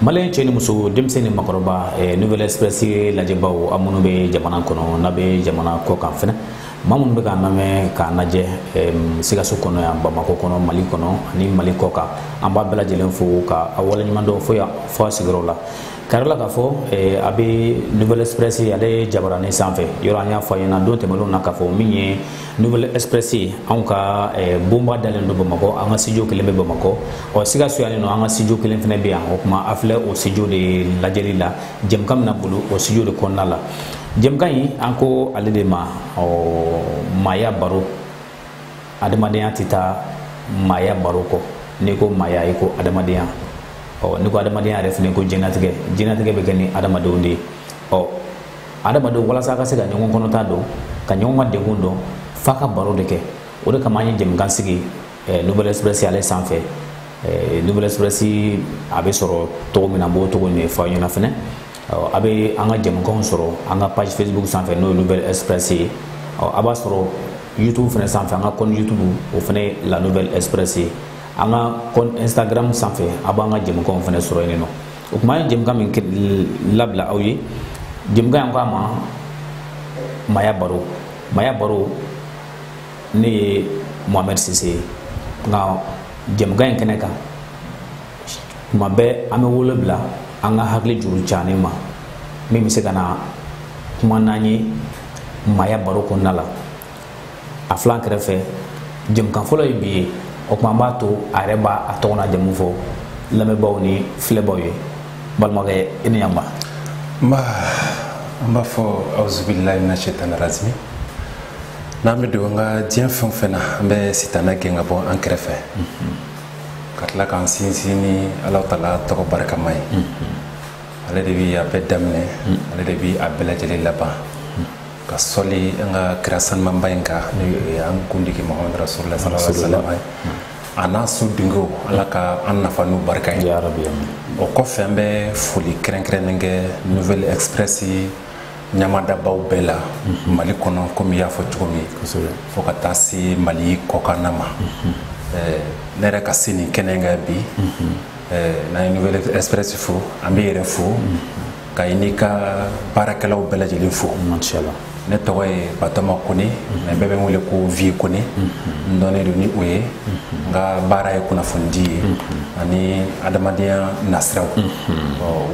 maliyɛn cɛ ni muso denmisɛn ni makɔrɔba eh, nouvelle express lajɛbaw a minnu bɛ jamana kɔnɔ n'a bɛ jamana kɔkan fɛnɛ maa minnu bɛ k'an lamɛn k'an lajɛ eh, sikaso kɔnɔ yan bamakɔ kɔnɔ mali kɔnɔ ani mali kɔkan an b'a bɛɛ lajɛlen fo ka a waleɲuman dɔn fo yan fo a sigiyɔrɔ la kari la k'a fɔ eh, a bɛ nouvelle express ale jabaranin sanfɛ yɔrɔ an y'a fɔ a ɲɛna don tɛmɛnenw na k'a fɔ min ye nouvelle express anw ka eh, bonba dalen don bamakɔ an ka studio kelen bɛ bamakɔ ɔ sikaso yanninɔ an ka studio kelen fɛnɛ bɛ yan o kuma a filɛ o studio de lajɛli la jɛmukan bɛna boli o studio de kɔnɔna la jɛmukan in an ko ale de ma ɔ maaya baro adamadenya tɛ taa maaya baro kɔ n'i ko maaya i ko adamadenya ɔ n'i ko adamadenya yɛrɛ fɛnɛ ko diɲɛnatigɛ diɲɛnatigɛ bɛ kɛ ni adamadenw de ye ɔ adamadenw walasa ka se ka ɲɔgɔn kɔnɔta dɔn ka ɲɔgɔn ka degun dɔn f'a ka baro de kɛ o de kama an ye jɛmukan sigi eh, nouvelle express ale sanfɛ eh, nouvelle express a bɛ sɔrɔ cogo min na an b'o cogo in de fɔ a ɲɛna fɛnɛ a bɛ an ka jɛmukanw sɔrɔ an ka page facebook sanfɛ n'o ye nouvelle express ye a b'a sɔrɔ youtube fɛnɛ sanfɛ an ka compte youtube o fɛnɛ la nouvelle express ye an ka compte instagram sanfɛ a b'an ka jɛmukanw fɛnɛ sɔrɔ yenninɔ o kuma ye jɛmukan min labila aw ye jɛmukan in ko a ma maaya baro maaya baro ne ye mohamɛd sise ye nka jɛmukan in kɛnɛ kan tuma bɛɛ an bɛ wele bila an ka hakili juru canen ma min bɛ se ka na kuma n'an ye maaya baro kɔnɔna la a filɛ an kɛrɛfɛ jɛmukan fɔlɔ ye bi ye o kuma an b'a to a yɛrɛ b'a tɔgɔ n'a jamu fɔ lamɛnbaaw ni filɛbaaw ye balimakɛ i ni yanba nba an b'a fɔ awuzubilayi mina sitana razimi n'an bɛ don an ka diɲɛ fɛn o fɛn na an bɛ sitana gɛn ka bɔ an kɛrɛfɛ ka tila k'an sinsin ni ala tala tɔgɔ barikama ye ale de bi a bɛɛ daminɛ ale de bi a bɛɛ lajɛlen laban ka soli an ka kira sanumaba in kan n'o ye an kundigi mahamadu rasulula sallallahu alaihi wasallam ye a n'a su dunkew ala ka an nafa n'u barika ye o kɔfɛ an bɛ foli kɛrɛnkɛrɛnnen kɛ nouvelle express ɲamadabaw bɛɛ la mhm. mali kɔnɔ komi i y'a fɔ cogo min fo ka taa se mali kɔkanna ma mhm. eh, ne yɛrɛ ka se nin kɛnɛ kan bi mhm. eh, n'an ye nouvelle express fo an b'i yɛrɛ fo ka i n'i ka baarakɛlaw bɛɛ lajɛlen fo ne tɔgɔ ye batɔma kone mɛ bɛɛ bɛ n wele ko vieux kone n dɔnnen don ni o ye n ka baara ye kunnafonidi ye ani adamadenya nasiraw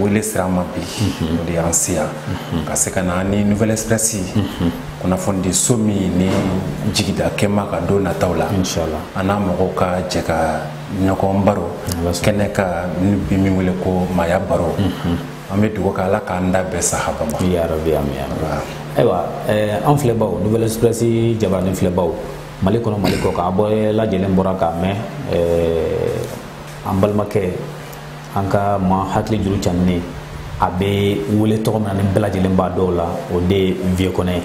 wele sera n ma bi o de y'an se yan ka se ka na ni nouvelle express kunnafonidi so min ni jigida kɛma ka don nataw la an n'a mɔgɔw ka jɛ ka ɲɔgɔn baro kɛnɛ kan n'i bi min wele ko maaya baro mhm. an bɛ dugawu kɛ ala k'an da bɛɛ sahaba ma yarabi ayiwa eh, an filɛbaw nouvelle express jabarani filɛbaw mali kɔnɔ mali kɔkan a bɛɛ lajɛlen bɔra k'a mɛn eh, an balimakɛ an ka maa hakili juru canin a bɛ wele tɔgɔ min na ni bɛɛ lajɛlen b'a dɔn a la o de ye vieux kɔnɛ ye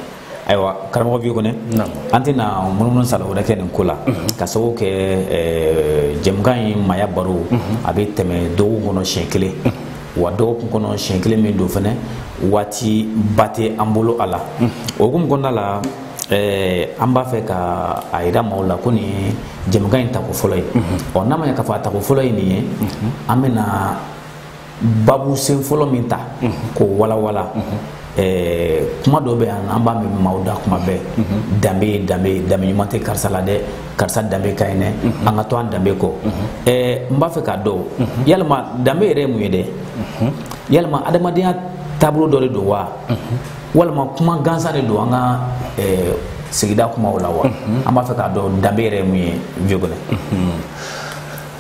ayiwa karamɔgɔ vieux kɔnɛ an tɛna munumunu sala wɛrɛ kɛ nin ko la mhm. ka sababu kɛ eh, jɛmukan in maaya baro mhm. a bɛ tɛmɛ dɔgɔkun kɔnɔ siɲɛ kelen mhm. wa dɔgɔkun kɔnɔ siɲɛ kelen min don fɛnɛ waati ba tɛ an bolo a la o hukumu kɔnɔna la eh, an b'a fɛ ka a yira maaw la ko nin ye jɛmukan in tako fɔlɔ ye ɔ n'a ma ɲɛ k'a fɔ a tako fɔlɔ ye nin ye an bɛna babu sen fɔlɔ min ta k'o walawala Eh, kuma dɔ bɛ yan an b'a mɛn maaw da kuma bɛɛ mhm. danbe ye danbe ye danbe ɲuman tɛ karisa la dɛ karisa danbe ka ɲi dɛ mhm. an ka to an danbe kɔ mhm. eh, n b'a fɛ k'a dɔn yalima danbe yɛrɛ ye mun ye dɛ yalima adamadenya taabolo dɔ de don wa walima kuma gansan de don an ka eh, sigida kumaw la wa an b'a fɛ k'a dɔn danbe yɛrɛ ye mun ye vieux kɔnɛ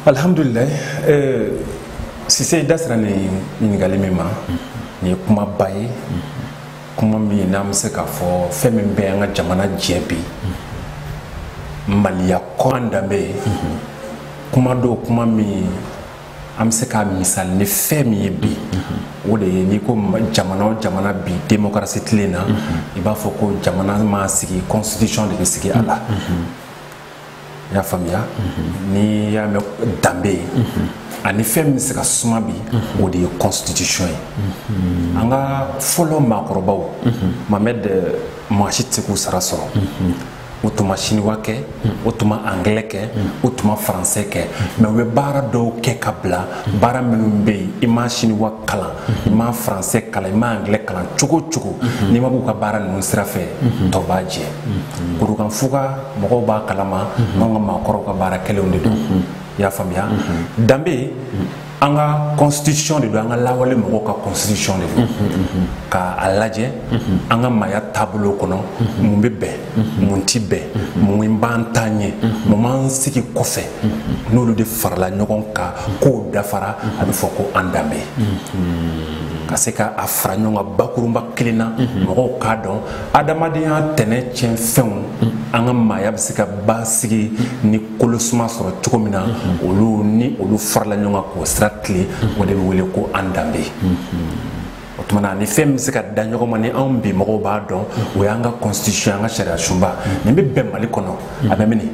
alhamdulilayi sise i da sera nin ɲininkali min ma nin ye kumaba ye kuma min n'an bɛ se k'a fɔ fɛn min bɛ an ka jamana jɛ bi mali yan kɔnɔ danbe ye kuma don kuma min an bɛ se k'a misali ni fɛn min ye bi o de ye n'i ko jamana o jamana bi demokarasi tilen na i b'a fɔ ko jamana mana sigi constitution de bɛ sigi a la i y'a faamuya n'i y'a mɛn danbe a ni fɛn min bɛ se ka suma bi o de ye constitution ye an ka fɔlɔ maakɔrɔbaw mamɛd maa si tɛ se k'u sara sɔrɔ u tun ma siniwa kɛ u tun ma angilɛ kɛ u tun ma faransɛ kɛ mɛ u bɛ baara dɔw kɛ ka bila baara minnu bɛ yen i ma siniwa kalan i ma faransɛ kalan i ma angilɛ kalan cogo o cogo n'i ma b'u ka baara ninnu sira fɛ tɔ b'a jɛ kurukanfuga mɔgɔw b'a kalama mhm. anw ka maakɔrɔw ka baara kɛlenw de don mhm. i y'a faamuya mhm. danbe an ka constitution de don an ka lawale mɔgɔw ka constitution de don ka a lajɛ an ka maaya taabolo kɔnɔ mun bɛ bɛn mun ti bɛn mun b'an ta ɲɛ mun b'an sigi kɔfɛ n'olu de farala ɲɔgɔn kan k'o dafara a bɛ fɔ ko an danbe ka se ka a fara ɲɔgɔn kan bakurunba kelen na mɔgɔw k'a dɔn adamadenya tɛnɛ tiɲɛ fɛnw an ka maaya bɛ se ka basigi ni kolosuma sɔrɔ cogo min na olu ni olu farala ɲɔgɔn kan k'o sira tilen o de bɛ wele ko an danbe o tuma na ni fɛn min bɛ se ka da ɲɔgɔn ma ni anw bi mɔgɔw b'a dɔn o y'an ka constitution an ka sariya sunba nin bɛ bɛn mali kɔnɔ a bɛ mini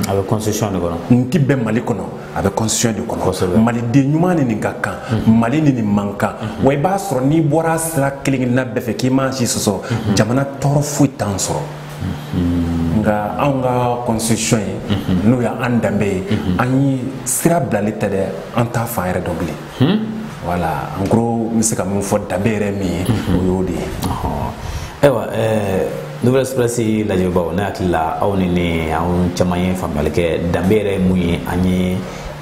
a bɛ constitution de kɔnɔ nin tɛ bɛn mali kɔnɔ a bɛ constitution de kɔnɔ maliden ɲuman ni nin ka kan mhm. mali ni nin man kan mhm. wa i b'a sɔrɔ n'i bɔra a sira kelen kelenna bɛɛ fɛ k'i ma si sɔsɔ mhm. jamana tɔɔrɔ foyi t'an sɔrɔ nka anw ka constitution ye n'o y'an danbe ye an ye sira bilali tɛ dɛ an t'a fan yɛrɛ dɔn bilen Hmm? Voilà en gros n bɛ se ka min fɔ danbe yɛrɛ min ye hmm. o y'o de ye ayiwa eh, nouvelle express lajɛbaaw ne hakili la aw ni ne an caman ye faamuyali kɛ danbe yɛrɛ ye mun ye an ye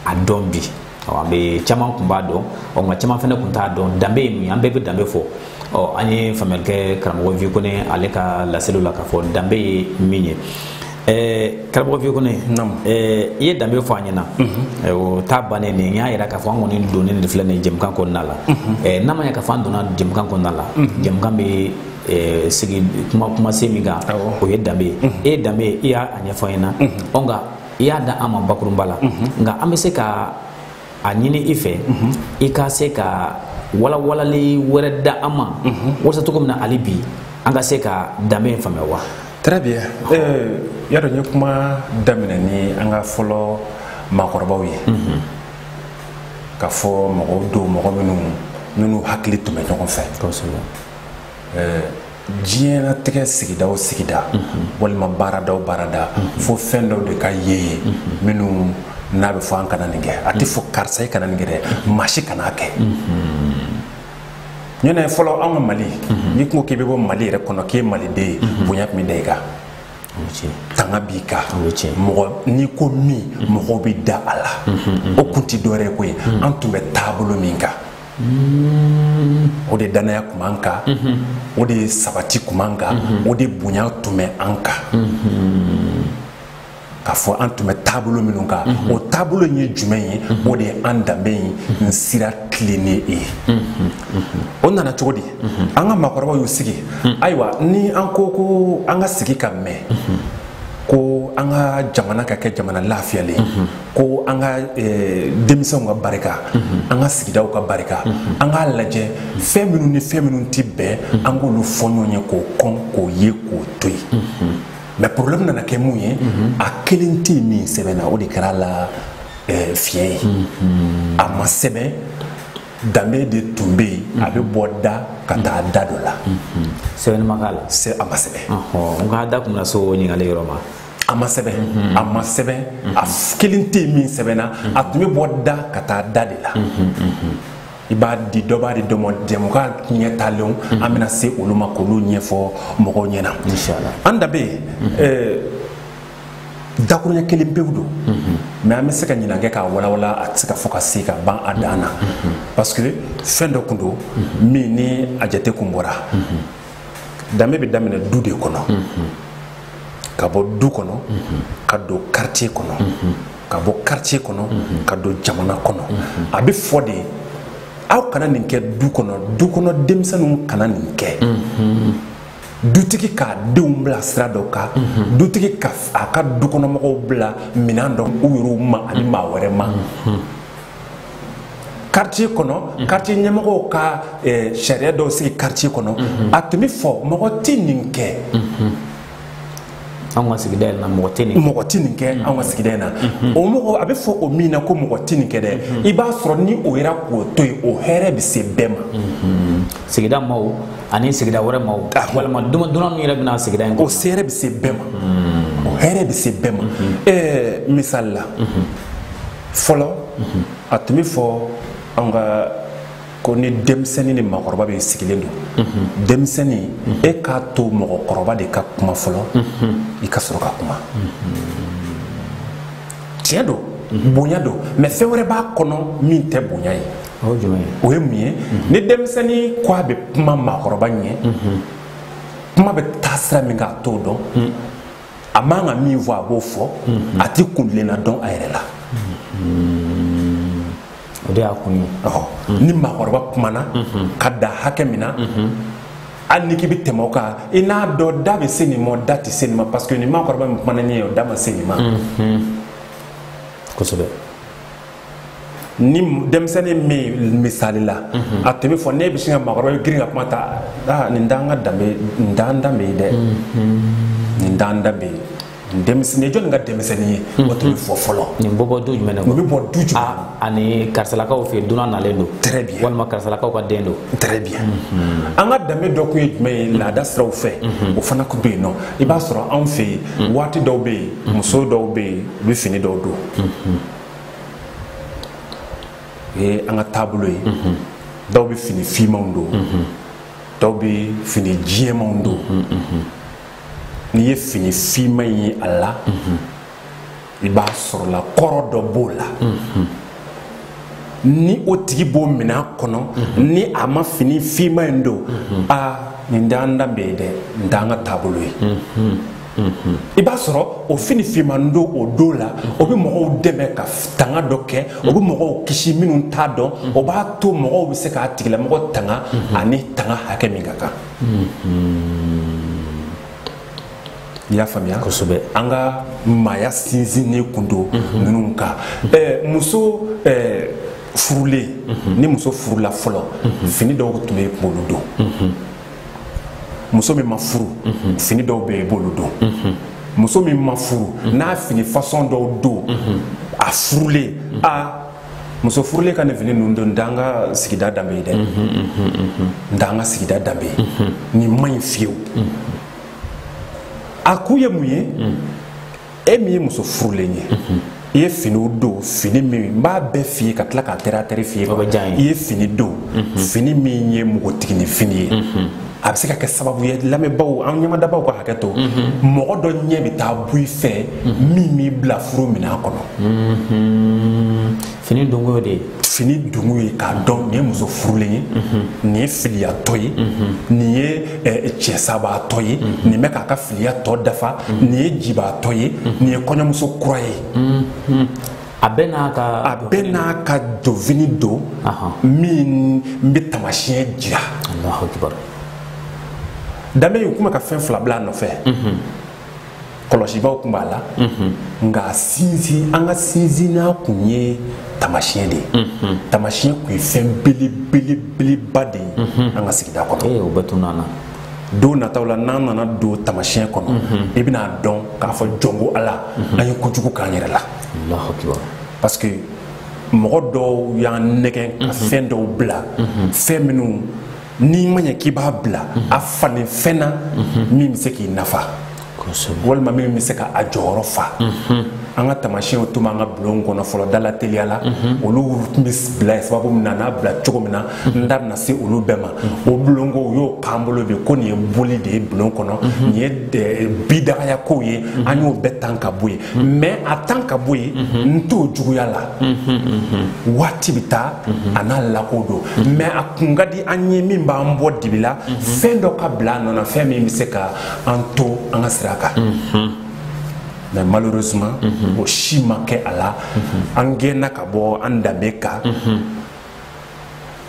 a dɔn bi an bɛ caman kun b'a dɔn nka caman fana kun t'a dɔn danbe ye mun ye an bɛɛ bɛ danbe fɔ ɔ an ye faamuyali kɛ karamɔgɔ vikone ale ka laseliw la k'a fɔ danbe ye min ye karamɔgɔ vikone i ye danbe fɔ an ɲɛna mhm. o ta bannen nin y'a yira k'a fɔ an kɔni donnen de filɛ nin jɛmukan kɔnɔna la mhm. n'a ma ɲɛ k'a fɔ an donna jɛmukan kɔnɔna la mhm. jɛmukan bɛ Eh, sigi kumasen min kan o ye danbe ye e ye danbe ye i y'a ɲɛfɔ an ɲɛna ɔ nka i y'a da an ma bakurunba la nka an bɛ se ka a ɲini i fɛ i ka se ka walawalali wɛrɛ da an ma walasa cogo min na hali bi an ka se ka danbe in faamuya wa très bien euh, y'a dɔn n ye kuma daminɛ ni an ka fɔlɔ maakɔrɔbaw ye k'a fɔ mɔgɔw don mɔgɔ minnu minnu hakili tun bɛ ɲɔgɔn fɛ diɲɛlatigɛ sigida o sigida walima baarada o baarada fo fɛn dɔw de ka ye yen minnu n'a bɛ fɔ an kana nin kɛ a tɛ fɔ karisa i kana nin kɛ dɛ maa si kana kɛ ɲɔnɛ fɔlɔ an ka mali n'i ko k'i bɛ bɔ mali yɛrɛ kɔnɔ k'e ye maliden ye bonya tun bɛ da i kan tanga b'i kan mɔgɔ n'i ko min mɔgɔw bɛ da a la o kun tɛ dɔwɛrɛ ye koyi an tun bɛ taabolo min kan o de danaya tun b'an kan o de sabati tun b'an kan o de bonya tun bɛ an kan k'a fɔ an tun bɛ taabolo minnu kan o taabolo in ye jumɛn ye o de ye an danbe in sira tilennen ye o nana cogo di an ka maakɔrɔbaw y'u sigi ayiwa ni an ko ko an ka sigi ka mɛn ko an ka jamana ka kɛ jamana lafiyalen mhm. ko an ka eh, denmisɛnw ka barika mhm. an ka sigidaw ka barika mhm. an k'a lajɛ fɛn minnu ni fɛn minnu tɛ bɛn an k'olu fɔ ɲɔgɔn ye k'o kɔn k'o ye k'o to yen mais problème nana kɛ mun ye a kelen tɛ yen min sɛbɛnna o de kɛra a la eh, fiɲɛ ye a ma sɛbɛn danbe de tun bɛ yen a bɛ bɔ da ka taa da dɔ la sɛbɛnni ma k'a la sɛ a ma sɛbɛn n ka da kun bɛna se o ɲininkali yɔrɔ ma a ma sɛbɛn a ma sɛbɛn a kelen tɛ yen min sɛbɛnna a tun bɛ bɔ da ka taa da de la i b'a di dɔ b'a di dɔ ma jɛmukan ɲɛ talenw an bɛna se olu ma k'olu ɲɛfɔ mɔgɔw ɲɛna an danbe dakuruɲɛ kelen pewu don mais an bɛ se ka ɲinan kɛ k'a walawala a tɛ se ka fɔ ka se ka ban a dan na parce que fɛn dɔ kun don min ni a jate kun bɔra danbe bɛ daminɛ du de kɔnɔ ka bɔ du kɔnɔ ka don quartier kɔnɔ ka bɔ quartier kɔnɔ ka don jamana kɔnɔ a bɛ fɔ de aw kana nin kɛ du kɔnɔ du kɔnɔ denmisɛnninw kana nin kɛ dutigi k'a denw bila sira dɔ kan mhm. dutigi ka a ka dukɔnɔmɔgɔw bila minɛn dɔ u yɛrɛw ma ani mhm. maa wɛrɛ ma mhm. quartier kɔnɔ quartier ɲɛmɔgɔw ka eh, sariya dɔw sigi quartier kɔnɔ a tun bɛ fɔ mɔgɔ tɛ nin kɛ anw ka sigida in na mɔgɔ tɛ nin mɔgɔ tɛ nin kɛ mm-hmm. anw ka sigida in na mm-hmm. o mɔgɔ a bɛ fɔ o min na ko mɔgɔ tɛ nin kɛ dɛ mm-hmm. i b'a sɔrɔ ni o jɛra k'o to yen o hɛrɛ bɛ se bɛɛ ma sigida maaw ani sigida wɛrɛ maaw ah. walima dunan min yɛrɛ bɛ na sigida in kɔnɔ o hɛrɛ bɛ se bɛɛ ma o hɛrɛ bɛ se bɛɛ ma ɛɛ misali la fɔlɔ a tun bɛ fɔ anw ka ko ni denmisɛnnin ni mɔgɔkɔrɔba bɛ sigilen don denmisɛnnin e k'a to mɔgɔkɔrɔba de ka kuma fɔlɔ i ka sɔrɔ ka kuma tiɲɛ don bonya don mais fɛn wɛrɛ b'a kɔnɔ min tɛ bonya ye o ye mun ye ni denmisɛnnin ko a bɛ kuma maakɔrɔba ɲɛ kuma bɛ taa sira min kan a t'o dɔn a man ka min fɔ a b'o fɔ a tɛ kuntilenna dɔn a yɛrɛ la o de y'a kun ye ni maakɔrɔba kumana ka dan hakɛ min na hali ni k'i bɛ tɛmɛ o kan i n'a dɔn da bɛ se nin ma da tɛ se nin ma parce que ni maakɔrɔba min kumana nin ye o da ma se nin ma kosɛbɛ ni denmisɛnnin min misali la a tun bɛ fɔ ne bɛ sin ka maakɔrɔba bɛ girin ka kuma ta aa nin t'an ka danbe nin t'an danbe ye dɛ nin t'an danbe ye denmisɛnnin jɔnni ka denmisɛnnin ye o tun bɛ fɔ fɔlɔ nin bɛ bɔ du jumɛn na o bɛ bɔ du jumɛn ani karisalakaw fɛ yen dunan nalen don très bien walima karisalakaw ka den don très bien an ka danbe dɔ kun ye jumɛn ye laada siraw fɛ o fana kun bɛ yen non i b'a sɔrɔ anw fɛ yen waati dɔw bɛ yen muso dɔw bɛ yen u bɛ fini dɔw don o ye an ka taabolo ye dɔw bɛ fini fimanw don dɔw bɛ fini jɛmanw don n'i ye fini finma in ye a la i b'a sɔrɔ la kɔrɔ dɔ b'o la ni o tigi b'o minɛn kɔnɔ ni a ma fini finma in don aa nin t'an danbe ye dɛ nin t'an ka taabolo ye i b'a sɔrɔ o fini finman don o don la o bɛ mɔgɔw dɛmɛ ka tanga dɔ kɛ o bɛ mɔgɔw kisi minnu t'a dɔn o b'a to mɔgɔw bɛ se k'a tigilamɔgɔ tanga ani tanga hakɛ min ka kan i y'a faamuya kosɛbɛ an ka maaya sinsinnen kun don mhm. ninnu kan mhm. muso furulen mhm. ni muso furula fɔlɔ fini dɔw tun bɛ i b'olu don muso min ma furu fini dɔw bɛ yen i b'olu don muso min ma furu n'a fini fasɔn dɔw don a furulen a muso furulen ka nin fini ninnu don n t'an ka sigida danbe ye dɛ n t'an ka sigida danbe ye nin ma ɲi fiyewu a kun ye mun ye e min ye muso furulen ye i ye finiw don fini min n b'a bɛɛ f'i ye ka tila k'a tɛrɛ a tɛrɛ f'i ye i ye fini don fini min ye npogotiginin fini ye a bɛ se ka kɛ sababu ye lamɛnbaaw an ɲɛmadabaw ka hakɛ to mɔgɔ dɔ ɲɛ bɛ taa bɔ i fɛ min b'i bila furu minɛn kɔnɔ fini donko y'o de ye fini donko ye k'a dɔn nin ye muso furulen ye nin ye filiyatɔ ye nin ye eh, cɛsabaatɔ ye nin bɛ k'a ka filiya tɔ dafa nin ye jibaatɔ ye nin ye kɔɲɔmuso kura ye a bɛɛ n'a ka a bɛɛ n'a ka donfini don min bɛ tamasiyɛn jira danbe y'u kuma ka fɛn fila bila a nɔfɛ mhm. kɔlɔsibaaw kun b'a la mhm. nka sinsin an ka sinsinnan kun ye tamasiyɛn de ye mhm. tamasiyɛn kun ye fɛn belebelebeleba de ye an ka sigida kɔnɔ eh, o bɛɛ tun nana don nataw la n'an nana don tamasiyɛn kɔnɔ i bɛn'a dɔn k'a fɔ jɔnko ala an ye kojugu k'an yɛrɛ la parce que mɔgɔ dɔw y'an nɛgɛn ka mhm. fɛn dɔw bila mhm. fɛn minnu n'i ma ɲɛ k'i b'a bila mhm. a falen fɛn na min bɛ se k'i nafa walima min bɛ se ka a jɔyɔrɔ fa an ka tamasiyɛnw tun b'an ka bulon kɔnɔ fɔlɔ da lateliya la olu tun bɛ bila yen sababu min na n'a bila cogo min na n da bɛna se olu bɛɛ ma o bulonko u y'o k'an bolo bi ko nin ye boli de ye bulon kɔnɔ nin ye bidagaya kow ye an y'o bɛɛ tan ka bɔ yen mais a tan ka bɔ yen n t'o juguya la waati bɛ taa a n'a lako don mais a kun ka di an ye min b'an bɔ dibi la fɛn dɔ ka bila a nɔ na fɛn min bɛ se ka an to an ka sira kan mais malheureusement o si ma kɛ a la an gɛnna ka bɔ an danbe kan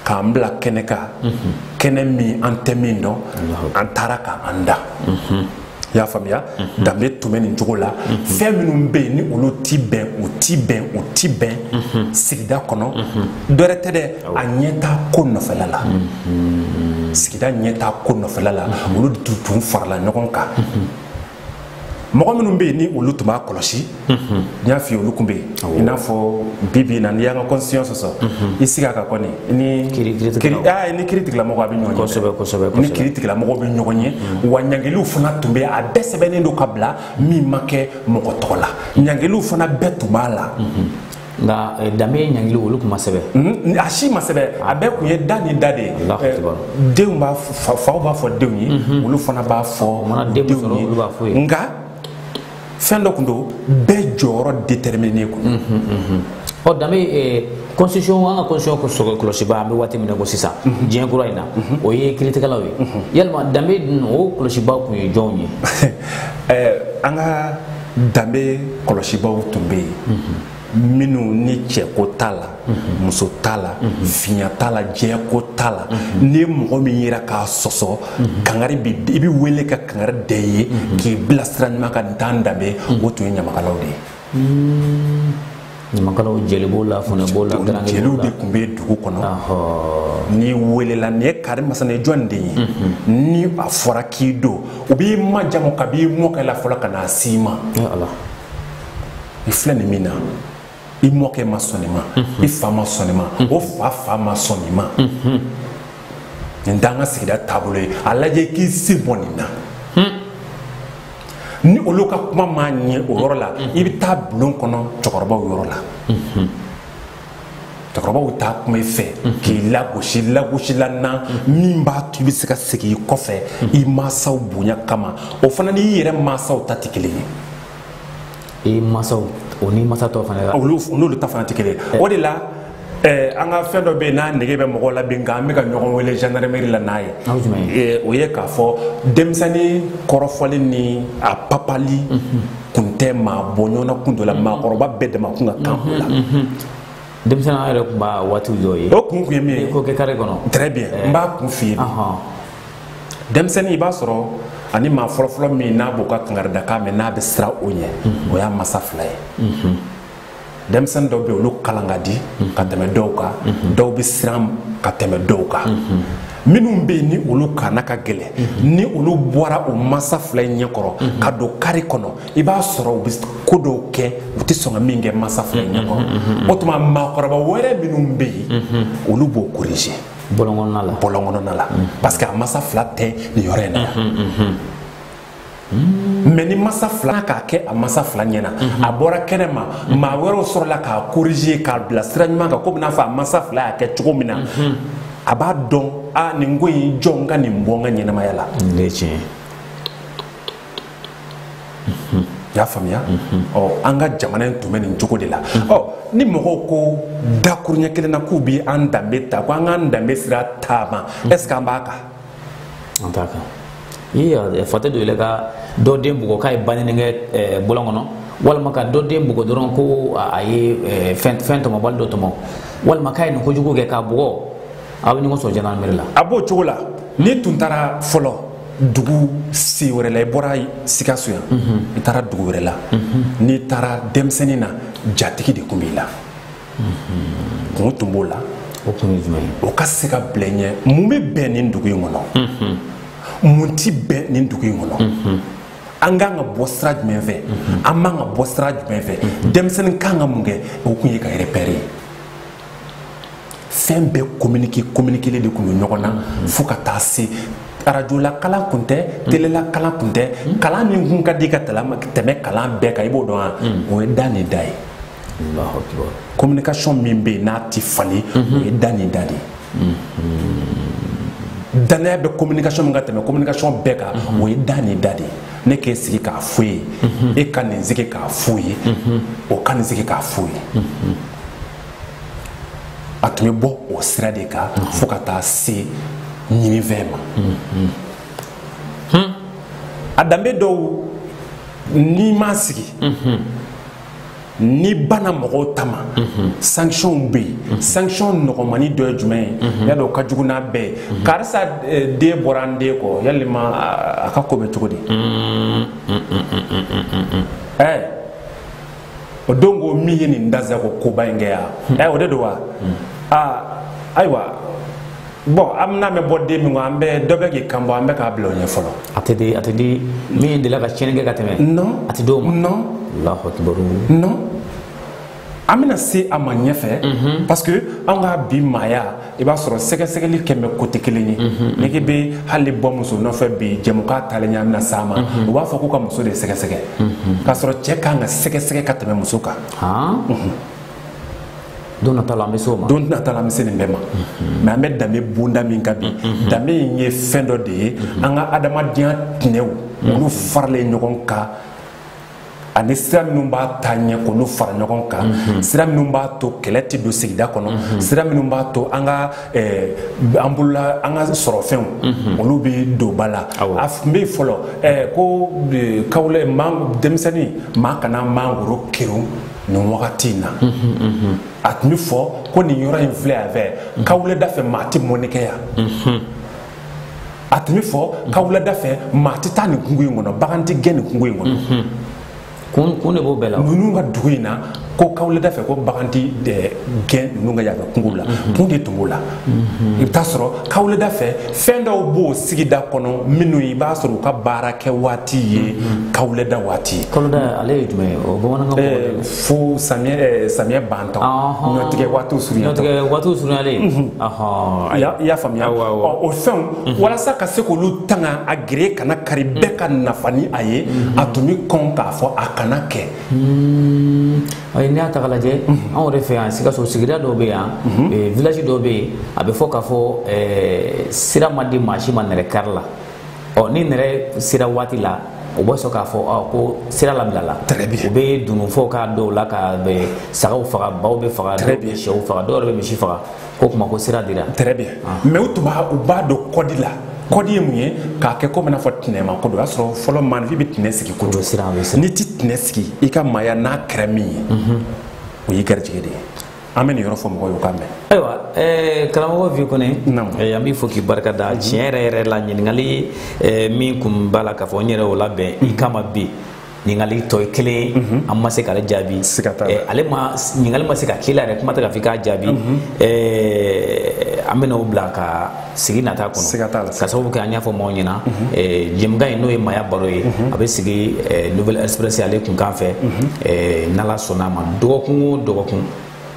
k'an bila kɛnɛ kan mhm. kɛnɛ min an tɛ min dɔn an taara k'an da mhm. i y'a faamuya mhm. danbe tun bɛ nin cogo la fɛn minnu bɛ yen ni olu ti bɛn u ti bɛn u ti bɛn sigida kɔnɔ dɔ wɛrɛ tɛ dɛ a ɲɛtaa ko nɔfɛla la sigida ɲɛtaa ko nɔfɛla la olu tun farala ɲɔgɔn kan mɔgɔ minnu bɛ yen ni olu tun b'a kɔlɔsi n y'a f'i ye olu tun bɛ yen i n'a fɔ bi bi in na n'i y'an ka constitution sɔsɔ i sigi a kan kɔni ni kiritigɛlamɔgɔw bɛ ɲɔgɔn ye ni kiritigɛlamɔgɔw bɛ ɲɔgɔn ye wa ɲangiliw fana tun bɛ a bɛɛ sɛbɛnnen don ka bila min ma kɛ mɔgɔ tɔgɔ la ɲangiliw fana bɛɛ tun b'a la nka eh, danbe ɲangili olu tun ma sɛbɛn mhm, a si ma sɛbɛn a bɛɛ tun ye da ni da de ye eh, denw b'a faw b'a fɔ denw ye mhm. olu fana b'a fɔ denw ye nka fɛn dɔ tun don bɛɛ jɔyɔrɔ déterminé kun mhm, ɔ danbe eh, constitution an ka constitution kɔlɔsibaa an bɛ waati min na ko sisan diɲɛ kura in na o ye kiritigɛlaw ye yalima danbe dun o kɔlɔsibaa tun ye jɔnw ye an ka danbe kɔlɔsibaaw tun bɛ yen minnu ni cɛko t'a la muso t'a la finya t'a la jɛyako t'a la ni mɔgɔ min yera k'a sɔsɔ kangari i bɛ wele ka kangari da i ye k'i bila sira ɲuman kan nin t'an danbe o tun ye ɲamakalaw de ye ɲamakalaw jeli b'o la funɛ b'o la garanke jeliw b'o de la tun bɛ dugu kɔnɔ Ahɔɔ. n'i welela nin ye kari masana jɔn de ye ni a fɔra k'i don u b'i majamu k'a b'i mɔkɛ la fɔlɔ ka n'a s'i ma e ala i filɛ nin min na i mɔkɛ ma sɔn nin ma i fa ma sɔn nin ma o fa fa ma sɔn nin ma nin t'an ka sigida taabolo ye a lajɛ i k'i sen bɔ nin na ni olu ka kuma m'a ɲɛ o yɔrɔ la i bɛ taa bulon kɔnɔ cɛkɔrɔbaw yɔrɔ la cɛkɔrɔbaw taa kuma i fɛ k'i lagosi lagosi la na min b'a to i bɛ se ka segin i kɔfɛ i mansaw bonya kama o fana n'i yɛrɛ mansaw ta tɛ kelen ye i masaw o ni masa tɔw fana ka olu n'olu ta fana tɛ kelen eh. o de la eh, an ka fɛn dɔ bɛ yen n'a nege bɛ mɔgɔw la bi nka an bɛ ka ɲɔgɔn wele gendarmerie la n'a ye eh, o ye k'a fɔ denmisɛnnin kɔrɔfɔli ni a papali mhm. kun tɛ maa bɔ ɲɔgɔn na kun dɔ la mhm. maakɔrɔba bɛɛ dama kun ka kan o la mhm, denmisɛnninya yɛrɛ tun b'a waati dɔw ye o kun kun ye min ye ko kɛ kare kɔnɔ très bien n b'a kun f'i ye denmisɛnnin i b'a sɔrɔ ani maa fɔlɔfɔlɔ min n'a b'o ka kangaridakan mɛn n'a bɛ siran o ɲɛ o y'a masa fila ye denmisɛnnin dɔw bɛ olu kalan ka di ka tɛmɛ dɔw kan dɔw bɛ siran ka tɛmɛ dɔw kan minnu bɛ yen ni olu kalan ka gɛlɛn ni olu bɔra u masa fila in ɲɛ kɔrɔ ka don kare kɔnɔ i b'a sɔrɔ u bɛ ko dɔw kɛ u tɛ sɔn ka min kɛ masa fila in ɲɛ kɔrɔ o tuma maakɔrɔba wɛrɛ minnu bɛ yen olu b'o korije bɔlɔn kɔnɔna la bɔlɔn kɔnɔna la mm. parce que a masa fila tɛ nin yɔrɔ in na yan mm-hmm, mm-hmm. mɛ ni masa fila k'a kɛ a masa fila ɲɛna a bɔra kɛnɛ ma maa wɛrɛw sɔrɔla k'a korije k'a bila sira ɲuman kan komi n'a fɔ a masa fila y'a kɛ cogo min na a b'a dɔn a nin ko in jɔ n ka nin bɔ n ka ɲɛnamaya la nin de ye tiɲɛ ye y'a faamuya ɔ an ka jamana in tun bɛ nin cogo de la ɔ ni mɔgɔw ko dakuruɲɛ kelen na k'u bɛ an danbe ta ko an k'an danbe sira taama est ce que an b'a kan an t'a kan i fate dɔ yɛlɛ ka dɔ den bugɔ k'a ye banini kɛ eh, bɔlɔn kɔnɔ walima ka dɔ den bugɔ dɔrɔn ko a ye eh, fɛn tɔmɔbali dɔ tɔmɔ walima k'a ye nin kojugu kɛ k'a bugɔ aw bɛ ɲɔgɔn sɔrɔ jandarmeri la a b'o cogo la n'i tun taara fɔlɔ dugu si wɛrɛ la i bɔra sikaso yan i taara dugu wɛrɛ la n'i taara denmisɛnnin na jatigi de tun b'i la kun tun b'o la o kun ye jumɛn ye o ka se ka bila i ɲɛ mun bɛ bɛn nin dugu in kɔnɔ mun ti bɛn nin dugu in kɔnɔ an kan ka bɔ sira jumɛn fɛ an man ka bɔ sira jumɛn fɛ denmisɛnnin kan ka mun kɛ o kun ye ka repɛri ye fɛn bɛɛ communiqué communiqué de tun bɛ ɲɔgɔn na fo ka taa se arajo la kalan kun tɛ mm. tele la kalan kun tɛ mm. kalan min kun ka di ka tɛmɛ kalan bɛɛ kan i b'o dɔn wa mm. o ye da ni da ye communication min bɛ yen n'a tɛ falen mm-hmm. o ye da ni da de ye mm-hmm. danaya bɛ communication min ka tɛmɛ communication bɛɛ kan mm-hmm. o ye da ni da de ye ne k'e sigi k'a fɔ i ye e ka nin sigi k'a f'o ye o ka nin sigi k'a f'o ye a tun bɛ bɔ o sira de kan fo ka taa se ɲininfɛn ma a danbe dɔw n'i m'a sigi n'i banna mɔgɔw ta ma sanctions bɛ yen sanction nɔgɔmani dɔ ye jumɛn ye yadɔ o ka jugu n'a bɛɛ ye karisa eh, den bɔra an den kɔ yalima a a ka ko bɛ cogo di ɛɛ o don ko min ye nin dansagon koba in kɛ yan hmm. ɛ o de don wa hmm. aa ah, ayiwa bon an bɛna mɛn bɔ den min kɔ an bɛ dɔ bɛ k'i kan bɔ an bɛ k'a bila o ɲɛ fɔlɔ. a tɛ di a tɛ di min delila ka tiɲɛni kɛ ka tɛmɛ. non a tɛ d'o ma. non alahu akibaru. non an bɛna se a ma ɲɛfɛ. Mhm. parce que an ka bi maaya. i b'a sɔrɔ sɛgɛsɛgɛli kɛlen côté kelen ye n'i k'i bɛ hali bɔ muso nɔfɛ bi jɛmukan taalen ɲɛ an bɛna s'a ma u b'a fɔ ko ka muso de sɛgɛsɛgɛ k'a sɔrɔ cɛ kan ka sɛgɛsɛgɛ ka tɛmɛ muso kan don nata la an bɛ se o ma don nata la an bɛ se nin bɛɛ ma mais an bɛ danbe bonda min kan bi danbe in ye fɛn dɔ de ye an ka adamadenya tɛnɛw olu faralen ɲɔgɔn kan ani sira minnu b'a taa ɲɛ k'olu fara ɲɔgɔn kan mhm. sira minnu b'a to kɛlɛ tɛ don sigida kɔnɔ mhm. sira minnu b'a to an ka eh, an bolola an ka sɔrɔfɛnw mhm. olu bɛ don ba la a tun bɛ yen fɔlɔ eh, ko eh, kawulɛ denmisɛnnin maa kana mangoro kerun nin wagati in na a tun bɛ fɔ ko nin yɔrɔ in filɛ yan fɛ kawulɛ dafɛ maa tɛ mɔnni kɛ yan a tun bɛ fɔ kawuleda fɛ maa tɛ taa nin kungo in kɔnɔ bagan tɛ gɛn nin kungo in kɔnɔ mhm. kun kun de b'o bɛɛ la ninnu ka dugu in na ko kawuleda fɛ ko bagan tɛ eh, gɛn ninnu ka yan fɛ kungo la mhm. kun de tun b'o la mhm. i bɛ taa sɔrɔ kawuleda fɛ fɛn dɔw b'o sigida kɔnɔ minnu i b'a sɔrɔ u ka baarakɛ waati ye kawuleda waati ye kawuleda ale ye jumɛn ye o bamanankan eh, fo samiyɛ eh, samiyɛ bantɔ ɲɔtigɛ waatiw surunya ɲɔtigɛ waatiw surunyalen i y'a faamuya o fɛnw mhm. walasa ka se k'olu tanga a gere kana kari mhm. bɛɛ ka nafa ni a ye mhm. a tun bɛ kɔn k'a fɔ a kana kɛ hmm. ayi n'i y'a ta k'a lajɛ anw yɛrɛ fɛ yan sikaso sigida dɔw bɛ yan eh, village dɔw bɛ yen a bɛ fɔ k'a fɔ eh, sira ma di maa si ma nɛrɛ kari la ɔ ni nɛrɛ sera waati la u bɛ sɔrɔ k'a fɔ ɔ ko sira labilala Très bien. u bɛ dununfɔw k'a dɔw la ka sagaw faga baw bɛ faga Très dɔw bɛ bien. syɛw faga dɔw yɛrɛ bɛ misi faga ko kuma ko sira dira très bien mais u tun b'a u b'a don code la code ye mun ye k'a kɛ komi i n'a fɔ tinɛma ko don o y'a sɔrɔ fɔlɔ maanifin bɛ tinɛ sigi ko o bɛ don siran o bɛ siran n'i ti tinɛ sigi i ka maaya n'a kɛra min ye o y'i garijɛgɛ de ye an bɛ nin yɔrɔ fɔ mɔgɔw ye u k'a mɛn ayiwa eh, karamɔgɔ vieux kɔnɛ eh, an b'i fo k'i barika da mhm. tiɲɛ yɛrɛ yɛrɛ la ɲininkali eh, min kun b'a la k'a fɔ n yɛrɛ o labɛn i mhm. kama bi ɲininkali tɔ ye kelen ye mhm. an ma se k'ale jaabi ale ma ɲininkali ma se ka k'i la yɛrɛ kuma tɛ k'a fɔ i k'a jaabi an bɛna o bila ka sigi nata kɔnɔ siga t'a la ka sababu kɛ an y'a fɔ maaw ɲɛna jɛmukan in n'o ye maaya baro ye a bɛ sigi nouvelle express ale kunkan fɛ n'ala sɔnna a ma dɔgɔkun o dɔgɔkun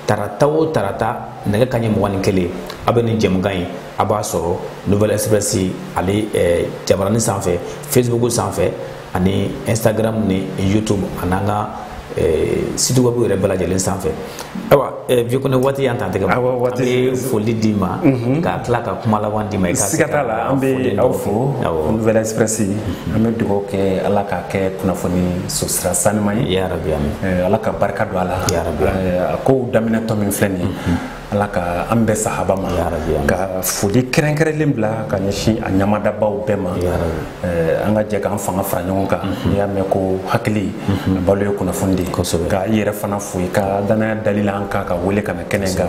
tarata o tarata nɛgɛ kanɲɛ mugan ni kelen a bɛ nin jɛmukan in a b'a sɔrɔ nouvelle express ale jabaranin sanfɛ facebook sanfɛ ani instagram ni youtube an'an ka eh, site web yɛrɛ bɛɛ lajɛlen sanfɛ ayiwa eh, vieux kɔnɛ waati y'an ta tigɛ Awa, waati- an bɛ foli d'i ma ka tila ka kuma laban d'i ma i ka se siga t'a la an foli bɛ dɔ aw fɔ. fo Awɔ. nouvelle express an bɛ dugawu kɛ ala k'a kɛ kunnafoni sosira sanima ye ya rabi amin Eh, ala ka barika don a la Ya Rabbi. Eh, a kow daminɛtɔ min filɛ nin ye ala ka an bɛɛ sahaba ma ka foli kɛrɛnkɛrɛnlen bila ka ɲɛsin a ɲamadabaw bɛɛ ma eh, an ka jɛ k'an fanga fara ɲɔgɔn kan mhm. n'i y'a mɛn ko hakili mhm. balo ye kunnafoni de ye ka i yɛrɛ fana fo i ka danaya dali la an kan ka wele ka na kɛnɛ kan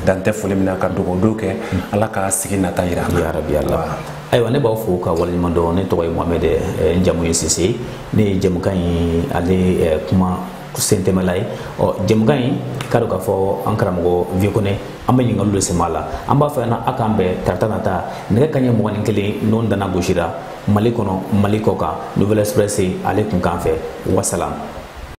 dan tɛ foli min na ka dugawu dɔ kɛ mhm. ala ka sigi nata yira an na ayiwa ne b'aw fo ka waleɲuman dɔn ne tɔgɔ ye mohamɛd eh, n jamu ye sise ne ye jɛmukan in ale eh, kuma sentɛmɛla ye ɔ jɛmukan in k'a dɔn k'a fɔ an karamɔgɔ vieux kɔnɛ an bɛ ɲininkaliw de sɛmɛ a la an b'a fɛ na a k'an bɛn tarata nata nɛgɛ kanɲɛ mugan ni kelen n'o dana gosira mali kɔnɔ mali kɔ kan nouvelle express ale kunkan fɛ wasalam